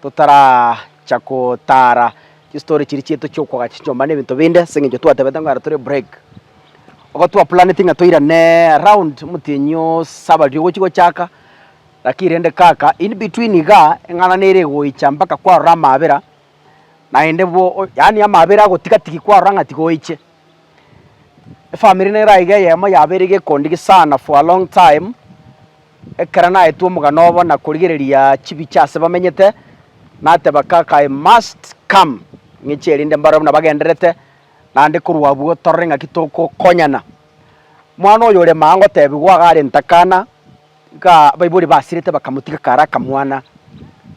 Totaracha gotaara chistori chiria chiaito chi'okwaga chinchomba na ebinto binde, ase eng'encho twatebete ng'a ere tore break. Igo twaplaneti ng'a toirane around omotienyi oose abaria ogochia gochaka, lakini rende kaka in between igaa, eng'ana nere egoicha mpaka kwarora amaabera, naende bo yaani amaabera agotigatigi kwarora ng'a tiga oiche. Efamiri nera iga eyemo yabeire gekondigia sana for a long time, ekero naetwe omogano obo na korigereria chibicha ase bamenyete, nateba kaka I must come ng'echie erinde mbarore buna bagendererete naende korwa abwo torore ng'aki togokonyana. Mwana oyo ore maa ngotebiwa iga arente akana, Iga abaibori basirete bakamotiga kare akamwana.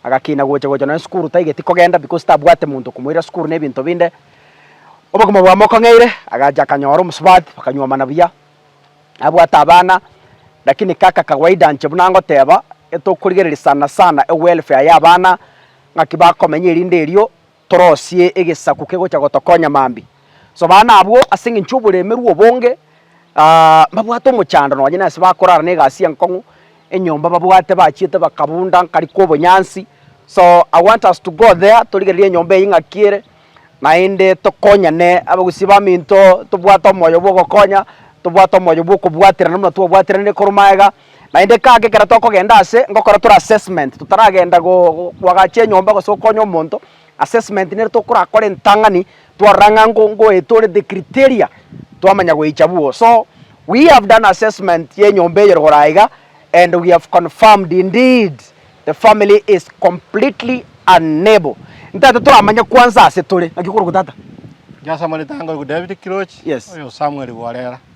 Agakina gocha gocha nonya sukuru taigeti kogenda because tabwate monto okomoira sukuru na ebinto binde. Obogima bwamo okong'eire agacha akanyora omosubati bakanyuomana buya. Abwate abana lakini kaka kawaida inche buna ngoteba getokorigereria sana sana ewelfare ya abana ng'aki bakomenya erinde erio Torosie egesaku kegocha gotokonya mambia. Sobana abwo ase engencho y'oboremerwa obonge, mbabwate omochando nonye nase bakorara na egasi enkong'u, enyomba babwate bachiete bakabunda nkari kw'obonyansi. So I want us to go there torigererie enyomba eyio ng'aki ere naende tokonyane abagusii baminto tobwate omoyo bw'ogokonya, tobwate omoyo bw'okobwaterana buna twabwateranire korwa magega. Naende kaka ekero tokogenda ase ngokora tore assessment totaragenda go koagacha enyomba gose gokonya omonto, assessment nere tokorakore entang'ani twarora ng'a ngo ngoeta ore the criteria twamanya goicha bugo. So we have done assessment ya enyomba eye rogoro aa iga and we have confirmed indeed the family is completely unable. Ntaete toramanye kwanza ase tore. Naki okoroku tata? Inche ase amareta ange oyoku David Kirochi, Yes. oyo Samuel Bworera.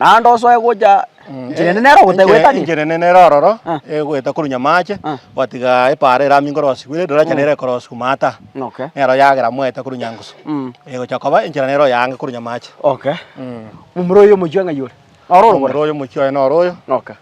Naende osoe gocha nchera ende nere ogotegweta nigo. Enchera ende nere ororo egoeta korwa nyamaache gwatiga epaara eramia nkorosi kwire riroracha nere ekorosi koma ata. Nero yagera moeta korwa nyangusu egocha koba enchera nere oyaange korwa nyamaache. Momura oyo omochie ng'ai ore? Noro ore? Momura oyo omochie oye noro oyo.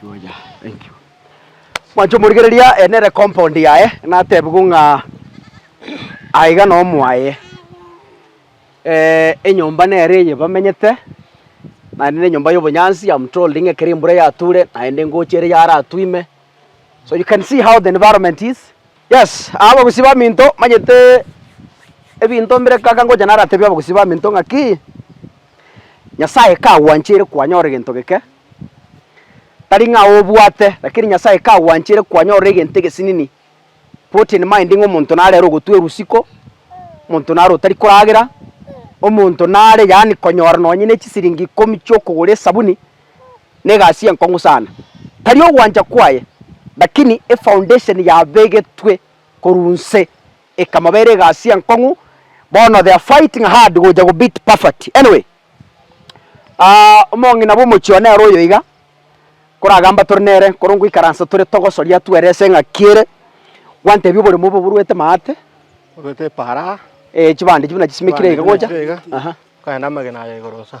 Chuya, thank you. Mwancha omorigereria ere nere compound yaye natebigwe ng'a aiga na omwaye eh, enyomba nere eye bamenyete naende na enyomba y'obonyansi I'm told ng'a ekero embura yature naende ngocha ere yaratwime so you can see how the environment is Yes, aa abagusii baminto manyete ebinto mbire kaka ngocha naratebie abagusii baminto ng'aki, Nyasaye kagwanchire kwanyora egento geke, tari ng'a obwate, rakini Nyasaye kagwanchire kwanyora egento egesinini, put in mind ng'a omonto nare ore ogotwa erusiko, omonto nare otari koragera, omonto nare yaani konyora nonye ne chisiringi ikomi chi'okogora esabuni. Negasi enkong'u sana, tari ogwancha kwaye, lakini efoundation yabegetwe korwa inse ekamabera egasi enkong'u, bono they are fighting hard gocha go beat poverty. Anyway, aah omong'ina bw'omochie oo nere oyo iga, koragamba tore nere, ekero ngoikaransa tore togosoria twerese eng'aki ere, gwantebi oboremo obo boruete maate, Oruete eparaa. eeh chibande echi buna chisimekire iga gocha, aha. Okaenda amagena aye igoro sa.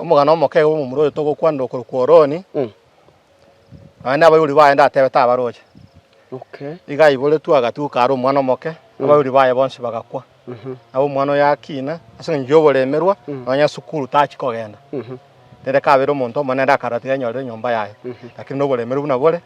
Omogano omoke iga bw'omomura oyo togokwanera okorokwa Oroni, nonya nabaibori baye ndatebe tabaroche. Iga aiboretwe agatuka are omwana omoke, abaibori baye bonsi bagakwa. Nabo omwana oyo akina ase eng'encho y'oboremerwa, nonya esukuru tachia kogenda. Rende kabere omonto omonene naende akaarora tiga enyorire enyomba yaye, lakini na oboremeru buna bore,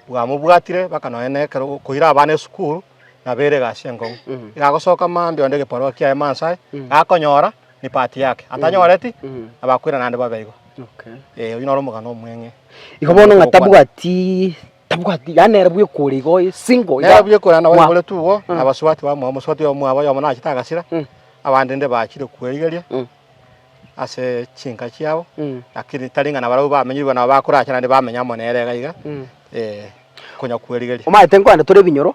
bwamobwatire mpaka nonya na ekero okoira abana esukuru, nabo ere egasi enkong'u. Iga agosoka mambia onde egebarua kiaye Mansa aye, gakonyora. ne part yake atanyoreti abakwera naende babe igo Okay. eh oyio noro omogano omweng'e Igo bono ng'a tabwati tabwati yaani nere bwekore igo single iga- nero bwekora na Mwa- bagore tugo Mm. na baswati bamwe omuswati omwabo oyomo nachete agasira Mm. abande nde bachire kwerigeria Mm. ase chinka chiabo Mm. lakini tari ng'a nabarabwo bamenyirwe nabo bakorache naende bamenya amo nere iga iga Mm. eh konya kwerigeria Omanyete nkwande tore ebinyoro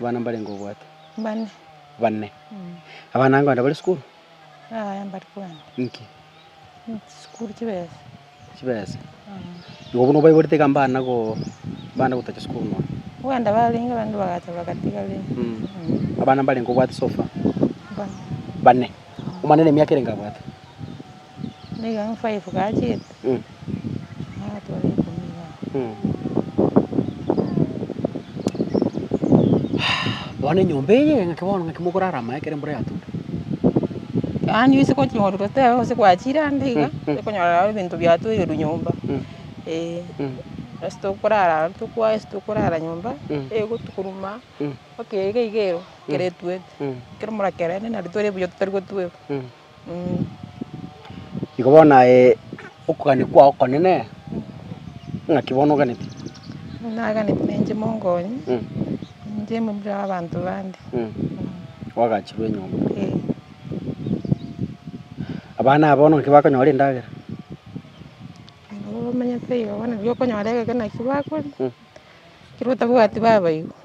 Abana mbarenge obwate? Bane. Bane. Abana ango ande bare sukuru? Yaya mbari kwenda. Inki? Sukuru chibesa. Chibesa? Igo bono obaiborete iga mbana go mbana gotacha sukuru nonya? Kwenda barenge abande bagacha bagatiga rende. Mm. Abana mbarenge obwate so far? Bane. Bane. Omwana nemiaka erenge abwate? Nigo eng five gachete nagatwara ikomi iga Bono enyomba eye ng'aki bono ng'aki mogorara amaye ekero embura yatota? Yaani gose goching'ororwa tebe gose gwachire ande iga okonyora nabo ebinto biatoirwe nyomba eh ase tokorara aro tokwaya ase tokorara nyomba ego tokoruma mpaka iga igero ekero etuete ekero mora kerende nari tore buya totari gotweka. Igo bono aye okogania kwao okonene, ng'aki bono oganete? Naganeti na inche mongonye, inche momura bw'abanto bande. Oagachirwe enyomba. Abana aba bono naki bakonyora endagera? Nabo bamenyete iga bono nabo okonyora egekina ki bakoria, ekero otabwati babaibwa.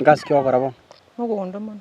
Egasi ki ogokora bono? Mogondo mono.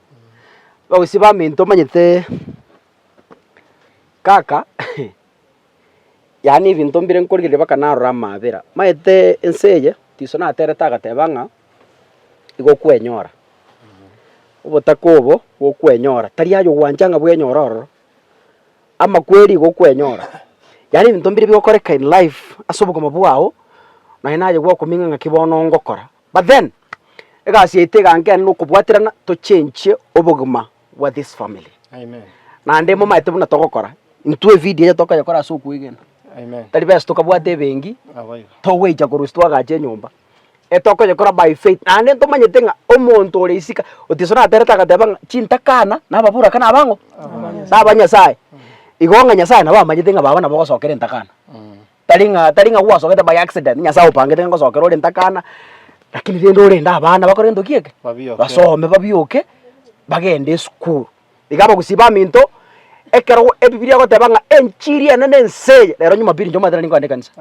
Bagosii baminto omanyete kaka yaani ebinto mbire nkorigereria mpaka narora amaabera. Omanyete ense eye Tiso naterete agateba ng'a nigo okwenyora, obotaka obo gokwenyora tari aye ogwancha ng'a bwenyore ororo, ama kweri igo okwenyora. Yaani ebinto mbire bigokoreka in life ase obogima bwao, naye naye gwakomenya ng'aki bono ngokora. But then egasi yaito egankenerera okobwaterana tochenchie obogima bwa this family. Amen. Naende momaete buna togokora intwe evidio eye tokoyekora ase okwegena Amen. tari besa tokabwate ebengi Aba iga. togweicha korwa ase twagacha enyomba etokoyekora by faith naende ntomanyete ng'a omonto ore isika otiso naterete agateba ng'a chintakana nababuraka naba ang'o naba nyasae igo ng'a nyasae nabo amanyete ng'a baba nabo ogosokera entakana Tari ng'a tari ng'a gwasogete by accident, Nyasae opangete ngosokera ore ntakana, lakini rende orende abana bakore entoki eke, Babioke. basome babioke, bagende esukuru. Iga abagusii baminto, ekero go ebibilia egoteba ng'a enchiri eye nene ense eye, rero Jumapili inche omanyete nari nkogenda ekanisa.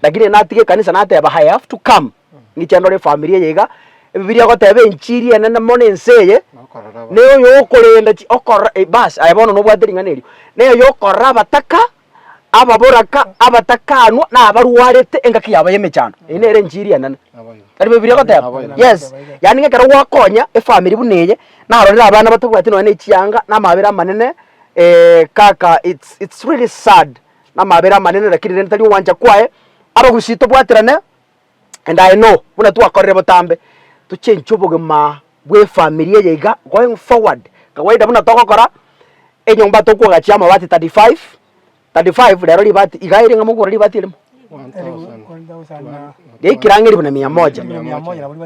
Lakini natiga ekanisa nateba I have to come, ng'iche ndore efamiri eye iga, ebibilia egoteba enchiri enene mono ense eye, Nokorora aba- neyo yokorenda chi okorora eh bas, aye bono nobwate ring'ana erio, neyo yokorora abataka ababoraka, abatakanwa, na abarwarete engaki yabo y'emechando. Eye nere enchiri enene. Tari Bibilia egoteba? Yes. Yaani ng'a ekero gwakonya efamiri buna eye, narorire abana batabwati nonya na echianga, na amabera amanene, eh, kaka it's, it's really sad, na amabera amanene lakini rende tari ogwancha kwaye, abagusii tobwaterane. And I know buna twakorire botambe tochenche obogima bw'efamiri eye iga going forward kawaida buna togokora enyomba tokogachia amabati 35 35 rero ribati iga ereng'ana mogokora ribati erimo riaikire ang'e ribu na mia moja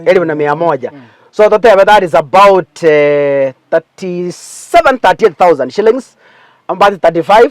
eribu na mia moja so totebe that is about eh, 37 38000 shillings amabati 35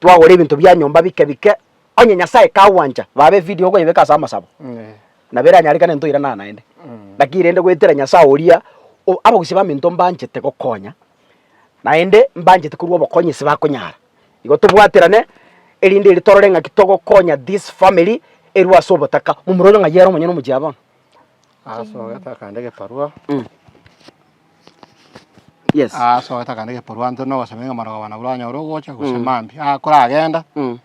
Twagora ebinto bia nyomba bike bike, onye Nyasae kagwancha, baba efidia okoyebeka ase amasabo, nabo eranyarekane ntoiranana naende. Lakini rende goetera Nyasae oria o abagusii baminto mbanchete gokonya, naende mbanchete korwa obokony'isi bakonyara. Igo tobwaterane, erinde eri torore ng'aki togokonya this family erwe ase obotaka, momura oria ng'ai ere omonyene omochie aa bono. Asogete akande egebarua Yes. asogete akande egebarua ntwe nogosaba ng'a marogoba nabwo oranyore ogocha gose Mm. mambia. Aa koragenda Mm.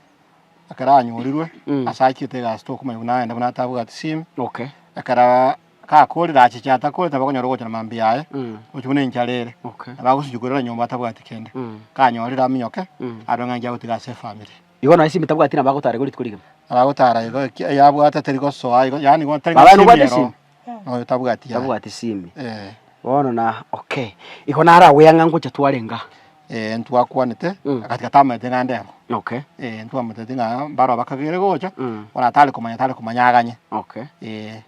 ekero anyorirwe Mm. ase achiete egasi tokomanya buna arenda buna atabwati simu Okay. ekero gakorire achiche atakorire tabakonyara ogocha na mambia aye Mm. gochia buna enchara ere Okay. nabo agosuchukerera nyomba atabwati kende Mm. kanyorire aminyoke Mm. arore ng'a enki agotiga ase efamiri. Igo naye Simi tabwati nabagotaara igo rituko rigima. Nabagotaara igo ekia eyabwate teri gosoa igo, yaani igo tari Babae nobwate gosimero. Simi? Noyo tabwati yaye. Tabwati Simi. Eh. Bono na okay. Igo naro agwea ng'a ngocha twarenge aa. Eh, ntwakwanete, Mm. agatiga tamanyete ng'a ndebo. Okay. Eh, ntwamoteti ng'a mbaro bakagere gocha, Mm. bono atare komanya tare komanya aganye. Okay. Eh.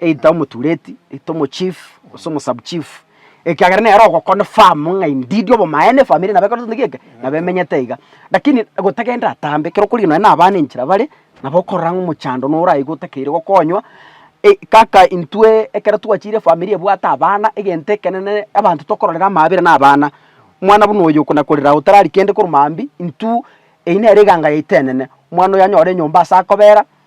either omotureti, either omochief, gose omosabuchief, ekiagera nere ogoconfirm ng'a indeed obomaene efamiri nabo ekorete gento geke, nabo emenyete iga. Lakini gotagenda atambe, ekero okorigia nonye na abana enchera bare, nabo okorora ng'a omochando noraigwe otakeire gokonywa, eh kaka intwe ekero twachire efamiri ebwate abana, egento ekenene abanto tokororera amaabera na abana. Omwana buna oyo okona korera aye otarari kende korwa mambia, intwe, eyio nere eganga yaito enene, omwana oyo anyore enyomba ase akobera.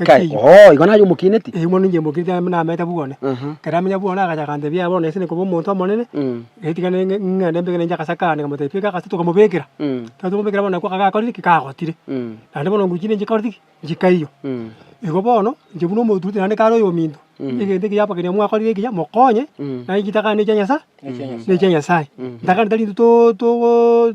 Nkai, Ekeiyo. oo, igo naye omokineti. Eyio mono inche mbokineti amo nameete buna one. Aha. Ekero namenya buna one, agacha akantebia, Yaya bono nese nkoba omonto omonene, Mm. getigana ng'e- ng'ende mbeke ninche agase kande, nkamotebia beka agase tokamobekera. Mm. Ekero twamobekera bono nakwo akagakorire ki? Kagotire. Mm. Naende bono nguru chinde nchikoreti ki? Nchikaiyo. Mm. Igo bono, inche buna omotuguti naende kare oyominto, egento ekiya apa keria mwakorire ekiya, mokonye, Mm. naye nchitakaane ne chia Nyasae, ne chia Nyasae. Ntakane tari intwe to- togo-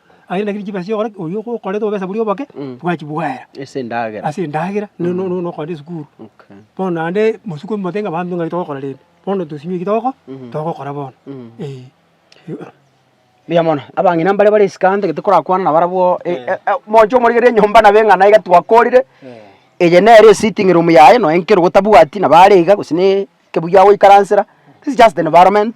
Aye naki chibesa chi'okore ki? Oyio okorete obesa boria oboke, bwachibwaera Ase endagera. ase endagera no- no- no- nokogenda esukuru. Okay. Bono naende botuko omote ng'a banto ng'aki togokora rende. Bono tosimie eki togoko- togokora bono. Eh. Mbuya mono. Abang'ina mbare bare esika ante gete korakwana na barabwo e- e- e- omonche omorigereria enyomba nabo eng'ana iga twakorire, eye nere esitting room yaye noe nkere otabwati nabo are iga gose ne ekebugia agoikaransera, this is just environment.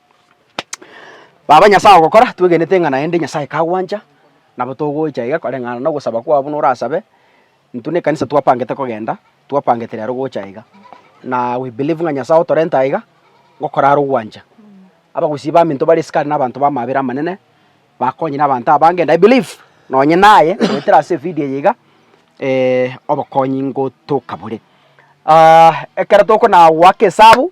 Baba Nyasae ogokora, twegenete ng'a naende Nyasae kagwancha, nabo togocha iga koreng'ana nogosaba kwabo buna orasabe, intwe nekanisa twapangete kogenda, twapangete rero gocha iga, na we believe ng'a Nyasae otorente aiga, gokorara ogwancha. Abagusii baminto bare ase kare na abanto b'amabera amanene, bakonye na abanto abange, and I believe nonye naye goetera ase evidio eye iga obokonyi ngotoka bore. ekero tokona goaka esabu,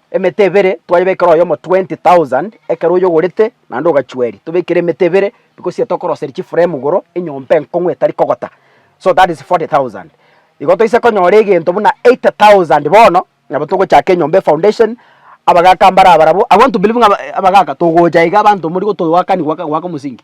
Emete ebere twayebekera oyomo twenty thousand, ekero oyogorete naende ogachua eria. Tobekire emete ebere because iga tokoroseria chiframe igoro, enyomba enkong'u etari kogota. So that is forty thousand. Igo toise konyora egento buna eight thousand bono, nabo togochaka enyomba efoundation, abagaka mbare abarabwo, I want to believe ng'a abagaka togocha iga abanto mori gotogoakanigwa goaka omosingi.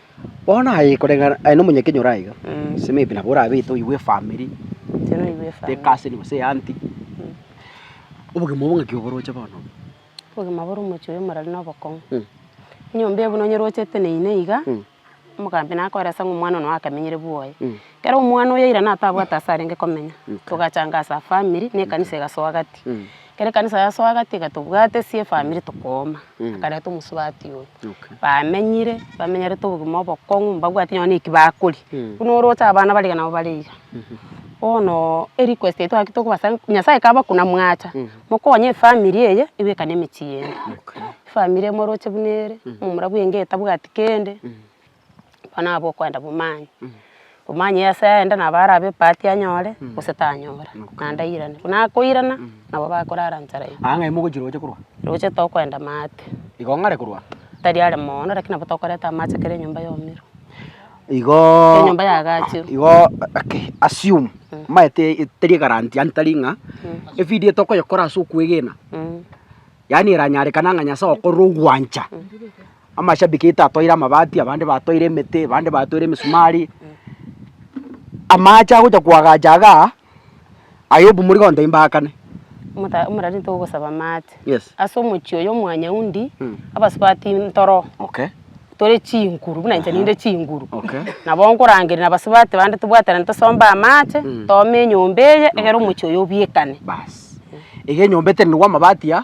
Bono aye koreng'ana aye nomonyakeny'e ore aiga, ase maybe nabo orabete oigwe efamiri, teka ase ere gose eanty, obogima obo ng'aki oboroche bono obo? Obogima bore omochie oyo morero na obokong'u. Enyomba eye buna onyerochete na ime iga, omogambi nakoeresa ng'a omwana one oye akamenyire bwoye. Ekero omwana oyo aira natabwate ase arenge komenya, togachanga ase famiri na ekanisa egasoa gati. Ekero ekanisa yasoa gati iga tobwate sie efamiri tokooma, akareta omosubati oye. Bamenyire, bamenyerete obogima obokong'u, mbabwati nonya na eki bakoria. Buna oroche abana bariga nabo bare iga. Bono erequest eye twagete koba ase, Nyasae kaba konamwacha, mokonye efamiri eye ebekane emechie yene. Efamiri eye moroche buna ere, momura bwenge etabwati kende, Bono nabo okoenda bomanye, omanye ase aende nabo arabe ebati anyore gose tanyora, naende airane. Buna akoirana nabo bakorara nchara ime. Ang'e ime ogochia roche korwa? Roche tokoenda maate. Igo ng'are korwa? Tari are moono lakini nabo tokoreta amache kera enyomba yomirwe. Igoooo. Enyomba yagachirwe. Igoo okay assume maete teri egaranti yaani tari ng'a evidio tokoyekora ase okwegena yaani eranyarekane ang'a Nyasae okorire ogwancha. amashabiki aito atoire amabati, abande batoire emete, abande batoire emisumari, amache agocha koagacha igaa, aye obumori gontebi mbaakane. Omota omorwari ntogosaba amache. Yes. Ase omochie oyo omwanyaundi, Mm. abasubati ntoro, Okay. tore chinguru buna inche ninde chinguru. Okay. Nabo nkorangeria na abasubati bande tobwaterane tosombe amache, Mm. toome enyomba eye, egere omochie oyo obiekane. Baas. Iga enyomba etenenigwe amabati aa.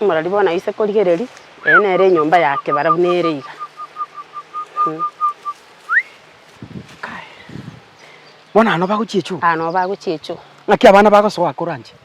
Omorori bono aise korigereria, eye nere enyomba yake barabwo nere iga. Bono aya nobagochia echoo? Aya nobagochia echoo. Naki abana bagosoa akoranche?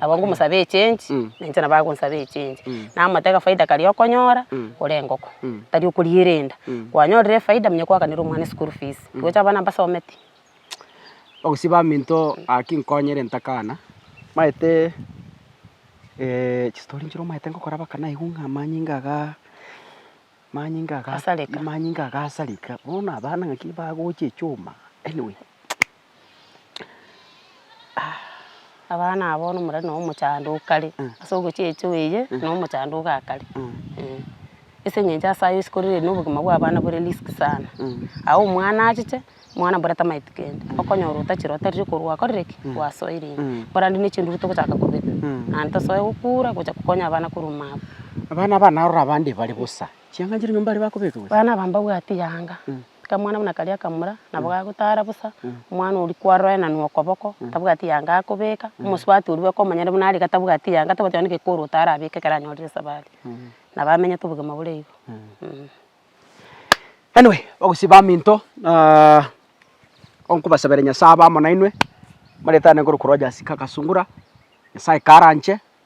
Nabo ngomosaba echange, na inche nabo agonsaba echange. Namotebia akafaida karia okonyora, kore engoko, tari okoriera enda. Kwanyorire efaida manya kwaakanera omwana eschool fees. Tigocha abana mbasometi. Ogosiba aminto gaki nkonyire ntakana, maete chistori nchire omaete ngokora mpaka naigwa ng'a amanyinga igaa, amanyinga igaa, amanyinga igaa asareka, bono abana naki bagocha echuma, anyway. abana aba bono omorero nabo omochando o kare, ase ogochia echo eye nabo omochando oga kare, eh. Ase eng'encho ase ayio isiko riria riria na obogima bwa abana bore risk sana, aye omwana achiche, omwana mbwate tamaeti kende, okonyora otachire otarire ekero gwakorire ki? Gwasoire ime. Korende na echinduru togochaka kobeka, naende tosoe gokura gocha kokonya abana korwa mabu. Abana abange narora abande bare bosa. Chianga nchiria nyomba aria bakobekigwa. Abana aba mbabwatie yaanga. Kamwana buna karia akamura, nabo gagotaara bosa, omwana oria kwaroreraniwa okoboko, tabwati yaanga akobeka, omosubati oria bweka omonyene buna are iga tabwati yaanga, tabwati onye gekoro otare abeke ekero anyorire esabari. Nabo amenyete obogima bore igo. Anyway, bagosii baminto, nkobasabera Nyasae abe amo nainwe, amareta ane nkoroku Rogers Kaka Sungura, Nyasae karanche.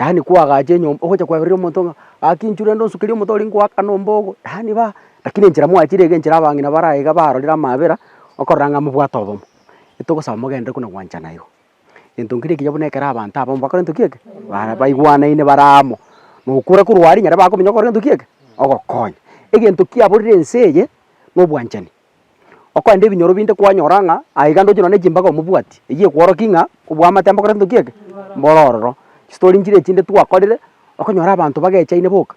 Yaani koagacha enyomba ogocha kweberera omonto ng'a gaki inchura ende onsukerie omote oria ngoaka na ombogo, yaani ba lakini enchera mwachire iga enchera abang'ina bare aiga barorire amaabera okorora ng'a mobwate obomo. Etogosaba mogenderere kona gwanchana igo. Gento nkere ekiya buna ekero abanto abamo bakore gento ki eke, bara baigwanaine bare amo, na okora korwa aria nyare bakomenya ogokora gento ki eke, ogokonya. Egento kiaborire ense eye, na obwanchani. Okorende ebinyoro binde kwanyora ng'a aiga ndoche nonye ne chimbaga omobwati, eyio ekworokia ng'a oboamate mbokore ntoki eke, mboro ororo. Chistory nchire echinde twakorire, okonyora abanto bagechaine boka,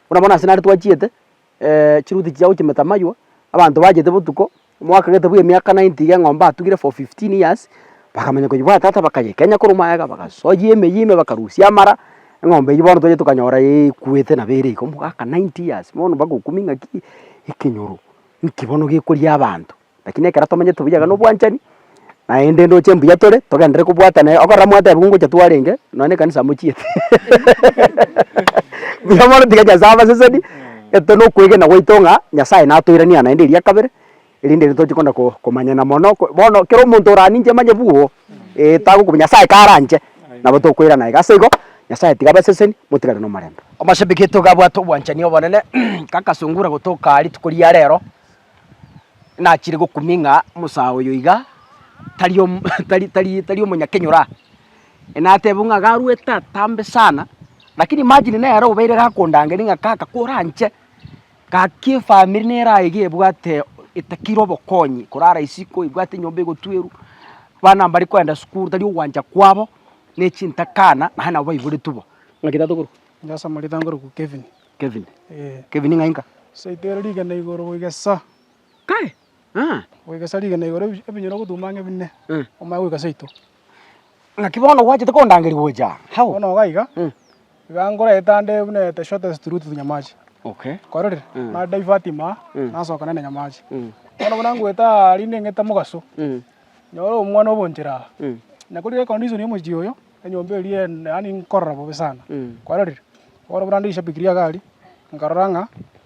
buna bono ase nare twachiete chiruti chiya gochimeta amaywo, abanto bachete botuko, omwaka gete bwa emiaka ninety iga eng'ombe atugire for fifteen years, bakamanya koyebwata ata bakayekenya korwa magega bagasoyia emeyia ime bakarusia amara, eng'ombe eywo bono twachire tokanyora eekwete nabo ere iga omogaka ninety years, bono bagokumia ng'aki ekenyoro. Nki bono gekoria abanto? Lakini ekero tomenyete buya iga na obwanchani, naende ndoche mbuya tore, togenderere kobwatana iga, okorora mwateba ng'a ngocha twarenge, nonya na ekanisa amochiete buya mono tiga Nyasae abaseseni, egento na okwegena gwaito ng'a Nyasae natoiraneria naende eria kabere, erinde ere tochi kona ko komanyana mono, bono kera omonto oraninche manye bwoo, ee, tagokwa Nyasae karanche. Nabo tokoirana iga ase igo, Nyasae tiga abaseseni, motigare nomorembe. Omoshambiki oito iga abwate obwanchani obonene, kakasungura gotoka rituko ria rero, nachire gokumia ng'a omosaa oyo iga tari om tari tari tari omonyakenyora, natebiwa ng'a iga arwete atambe sana, lakini imagine nere obeire gakondangeria ng'a kaka koranche Gaki efamiri nere aye iga ebwate etakire obokonyi, korara isiko, ebwate enyomba egotwerwa, abana mbare koenda sukuru, tari ogwancha kwabo, na echintakana, naye nabo baiboretwe bo. Ng'aki tato korwa? Ndasa morita nkorokwa Kevin. Kevin. Ee. Kevin ng'ai nka? Saito ere rigena igoro goika sa. Kai! Ng'a goikesa rigena igoro ebi- ebinyoro gotuma ang'e bine, omanye goika seito. Naki bono gwachete kondangeria gocha aa, hao. Bono iga iga, iga nkore etande buna the shortest route to Nyamachi. Okay. Kwarorire? Na divert ime aa, nasoka nende Nyamachi. Bono buna ngoeta aa rinde ng'ete mogaso, nyore omwana obo nchera aa. Na kori econdition ya omochie oyo, enyomba eria en- yaani nkorora bobe sana. Kwarorire? Bono buna ndishabikiri egari, nkarora ng'a.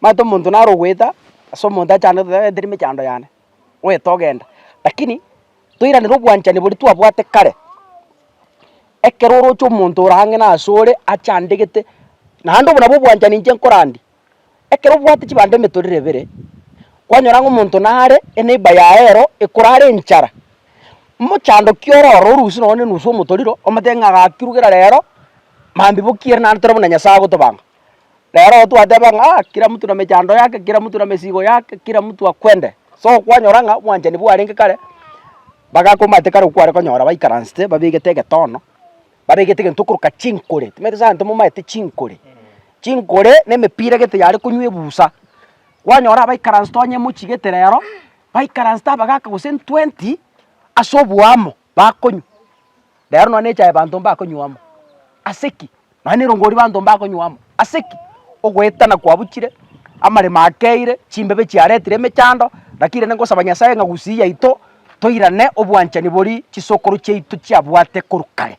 omanyete omonto naro ogoeta ase omonto achandete gose tari mechando yane, oeta ogenda. Lakini toiranere obwanchani boria twabwate kare, ekero oroche omonto ore ang'e na ase ore achandegete, naende obwo nabwo obwanchani inche nkorandia. Ekero obwate chibando emetorero ebere, kwanyora ng'a omonto nare eneiba yaye ero ekorara enchara, mochandoki oro oro orusie nonye na enusu ya omotoriro, omotebi ng'a gaki rugera rero, mambia bokiere naende tore buna Nyasae agotobanga. Rero igo twateba ng'a ah kera mtu na mechando yake, kera mtu na mesigo yake, kera mtu akwende. So kwanyora ng'a omwanchani bwarenge kare, bagakomate kare okware konyora baikaransete babegete egetono, babegete egento okoroka chinkore, timanyeti ase abanto momaete chinkore. Chinkore na emepira gete yare konywa ebusa, kwanyora abaikaransete onye emochigete rero, baikaransete abagaka gose ntwenty ase oboamo, bakonywa, rero nonya nechae banto mbakonywa amo, ase ki? Nonya nerongori banto mbakonywa amo, ase ki? Ogoetana kwabuchire, amaremo akeire, chimbebe chiaretire emechando, lakini rende ngosaba Nyasae ng'a gusii yaito toirane obwanchani boria chisokoro chiaito chiabwate korwa kare.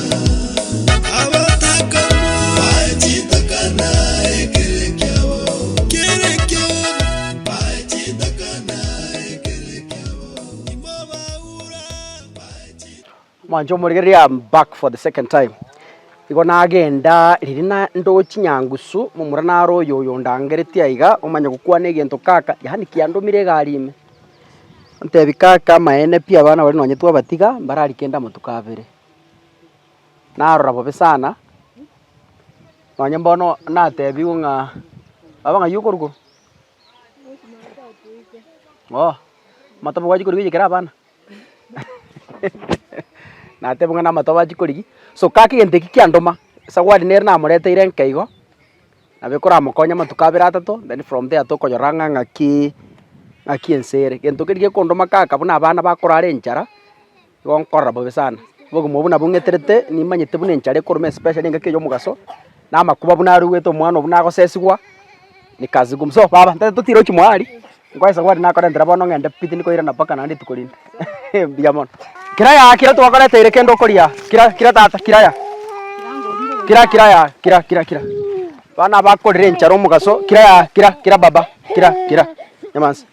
Mwancha omorigereria I am back for the second time. Igo nagenda riria na ndochi nyangusu momura naro oyo oyo ondangeretie aiga omanye gokwana egento kaka yaani kiandomire egari ime. Ntebi kaka amaene pi abana baria nonye twabatiga mbarari kende amatuko abere. narora bobe sana, nonye mbono natebigwe ng'a, baba ng'ai okorwa korwa? Oo, amatoba gwachia korigia oiyekere abana? natebigwe ng'a namatoba achia korigia, so kaka egento ekio kiandoma, esawadi nere namoreteire enke igo, nabo ekoramokonya amatuko abere atato, then from there tokonyora ng'a ng'aki ng'aki ense ere. Egento keri gekondoma kaka buna abana bakorara enchara. Nigo nkorora bobe sana, obogima obwo nabwo ng'eterete, nimanyete buna enchara ekoruma especially engaki eye y'omogaso, na amakuba buna arwete omwana obo nagosesigwa, nikazigum so baba nta totira gochia mohali, nkoesa gori nakorentera bono ng'ende pitini koirana mpaka naende rituko rinde eh mbuya mono. Kira yaya kira twakoreteire kende okoria, kira kira tata kira ya, kira kira ya kira kira kira, bana abakorire enchara omogaso kira ya kira kira baba kira kira, nyamaza.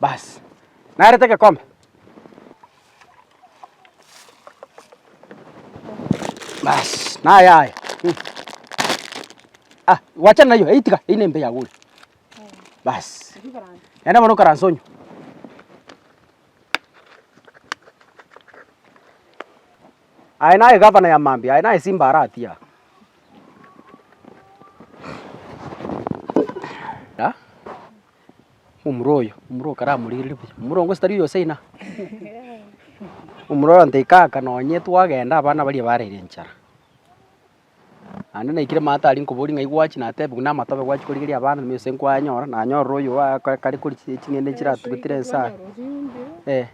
Basi, narete egekombe. Basi, naye aye. Hmm. Ah, gwachana nayo, eitiga, eyi nembe yago ore. Basi. Enda mono okaranse onywe. Aye naye gavana ya mambia, aye naye simba aratia. omura oyo, omura okaramorigereria buya, omura ongo gose tari oyo saina. Omura oyo ontebia kaka nonye twagenda abana baria barire enchara, naende naikire mama tari nkoboria ng'ai gwachi natebia buna amatoke gwachi korigeria abana ime gose nkwanyora, nanyorire oyo oa- ka- kare kori chi- ching'ende echi chiratubetire ense aa, eh.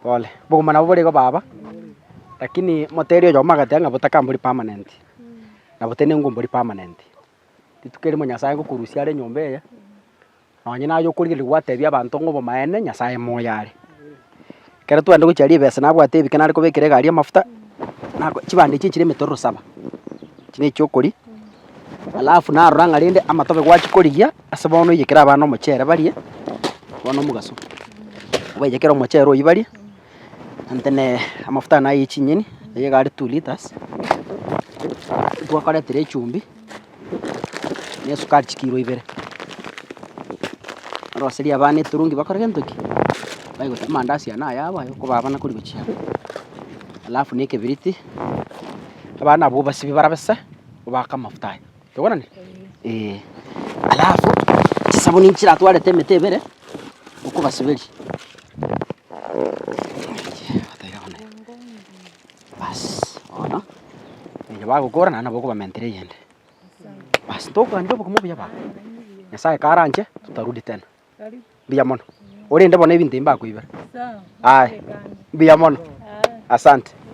Pole, obogima nabo bore iga baba, lakini motebia oyomo agateba ng'a botakambori permanent, nabo tende ngwa mbori permanent. rituko erimo Nyasae ngokorusia are enyomba eye, nonye naye okorigereria gwatebia abanto ng'a obomaene Nyasae moyo are. Ekero twende gochia ribese nabwate ebike nare kobekera egari amafuta, nako chibando echi echire emetororo saba, echi nechi okoria, alafu narora ng'a rende amatobe gwachikorigia, ase bono oyekere abana omochere barie, bono omogaso, obaiyekere omochere oywo barie. Nantene amafuta ane aye chinyeni, eye iga are two litres, twakoretire echumbi na esukari chikiro ibere. Oroserie abana eturungi bakore gento ki? Baye gochia amandasi ane ayabo aye okobaha abana kori gochia aba. Alafu na ekebiriti, abana abwo obasibie barabise, obake amafuta aya. Tokwana? Ee. Alafu chisabuni nchiratwarete emete ebere okobasiberia. Bas, bono onye bagokora naende nabo okobamentera eyende. Bas, ntokwanire obokumu obuya baba. Nyasaye karanche tutarudi tena. Mbuya mono. Orende bono ebinto ebi mbakoibera. Aye. Mbuya mono. Asante.